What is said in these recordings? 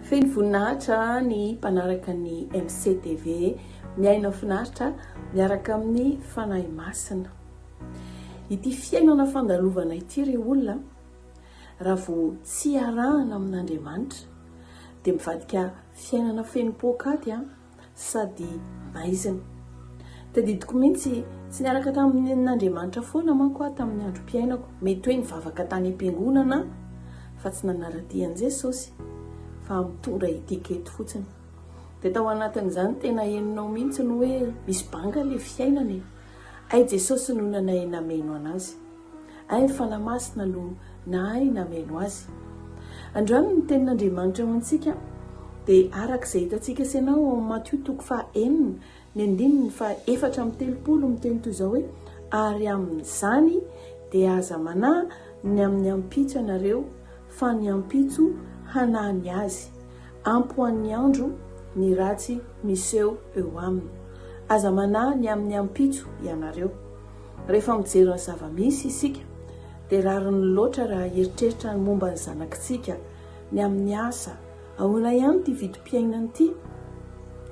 Feno voninahitra ny mpanaraka ny MCTV, miaina finaritra miaraka amin'ny Fanahy Masina. Ity fiainana fandalovana ity ry olona, raha vao tsy arahana amin'Andriamanitra dia mivadika fiainana feno poakaty. sady maizina. Tadidiko mihitsy, tsy niaraka tamin'Andriamanitra foana manko aho tamin'ny androm-piainako. Mety hoe nivavaka tany am-piangonana aho, fa tsy nanara-dia an'i Jesosy, fa mitondra etiquette fotsiny. Dia tao anatin'izany tena henonao mihitsy ny hoe misy banga ilay fiainana e! Hay Jesosy no nanahy nameno an'azy. Hay fa lahy masina no nahay nameno azy. Androany ny tenin'Andriamanitra ho antsika dia araka izay hitantsika sy ianao ao amin'ny Matio toko faha enina ny andininy faha efatra amby telopolo miteny toy izao hoe ary amin'izany dia aza manahy ny amin'ny ampitso ianareo fa ny ampitso hanahy ny azy. Ampy ho an'ny andro ny ratsy miseho eo aminy. Aza manahy ny amin'ny ampitso ianareo. Rehefa mijery ny zava-misy isika, dia rariny loatra raha hieritreritra ny momba ny zanakitsika, ny amin'ny asa, ahoana ihany ity vidim-piainana ity?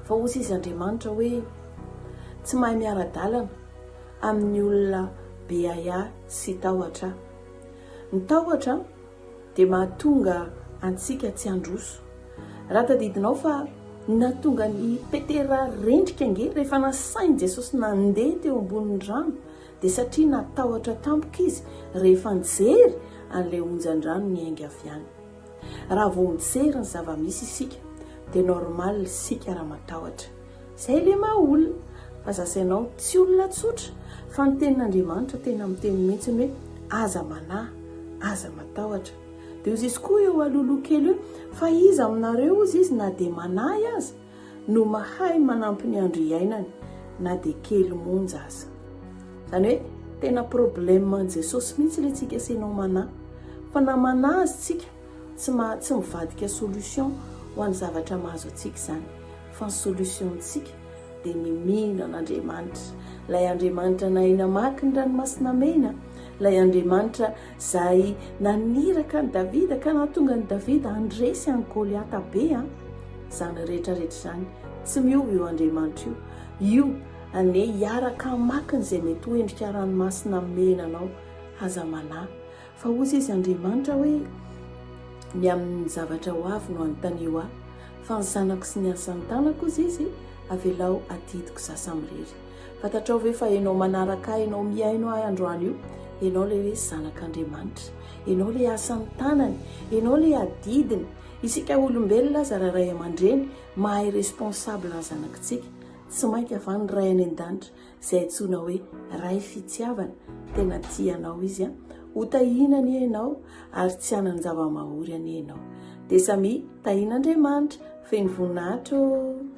Fa hoy sisa Andriamanitra hoe, Tsy mahay miara-dalana amin'ny olona be ahiahy sy tahotra aho. Ny tahotra dia mahatonga antsika tsy handroso. Raha tadidinao fa nahatonga an'i Petera rendrika ange rehefa nasain'i Jesosy nandeha teo ambonin'ny rano, dia satria natahotra tampoka izy rehefa nijery an'ilay onjan-drano niainga avy any. Raha vao mijery ny zava-misy isika, dia normal isika raha matahotra. Zay le maha olona fa za sy ianao tsy olona tsotra fa ny tenin'Andriamanitra tena miteny mihitsy hoe aza manahy, aza matahotra. De ozy izy koa eo aloha loha kely hoe fa iza aminareo ozy izy na de manahy aza no mahay manampy ny andro iainany na de kely monja aza. Zany hoe tena problème an'i Jesosy mihitsy le tsika sy ianao manahy fa na manahy aza tsika Tsy maha tsy mivadika solution ho an'ny zavatra mahazo antsika izany fa ny solution-tsika dia ny mino an'Andriamanitra, ilay Andriamanitra nahay namaky ny ranomasina mena, ilay Andriamanitra izay naniraka an'i Davida ka nahatonga an'i Davida handresy an'i Goliata be an! Izany rehetra rehetra izany tsy miova io Andriamanitra io. Io anie hiaraka hamaky an'izay mety ho endrika ranomasina mena anao, aza manahy. Fa hozy izy Andriamanitra hoe, Ny amin'ny zavatra ho avy no anontanio ahy, fa ny zanako sy ny asan'ny tanako, hozy izy, avelao adidiko sasamirery. Fantatrao ve fa ianao manaraka ahy, ianao mihaino ahy androany io, ianao ilay hoe zanak'Andriamanitra, ianao ilay asan'ny tanany, ianao ilay adidiny. Isika olombelona aza raha ray aman-dreny mahay responsable ny zanakitsika, tsy mainka va ny Ray any an-danitra izay antsoina hoe Ray fitiavana, tena tia anao izy an, ho tahiana anie ianao ary tsy hanan-java-mahory anie ianao, dia samia tahian'Andriamanitra feno voninahitra ô!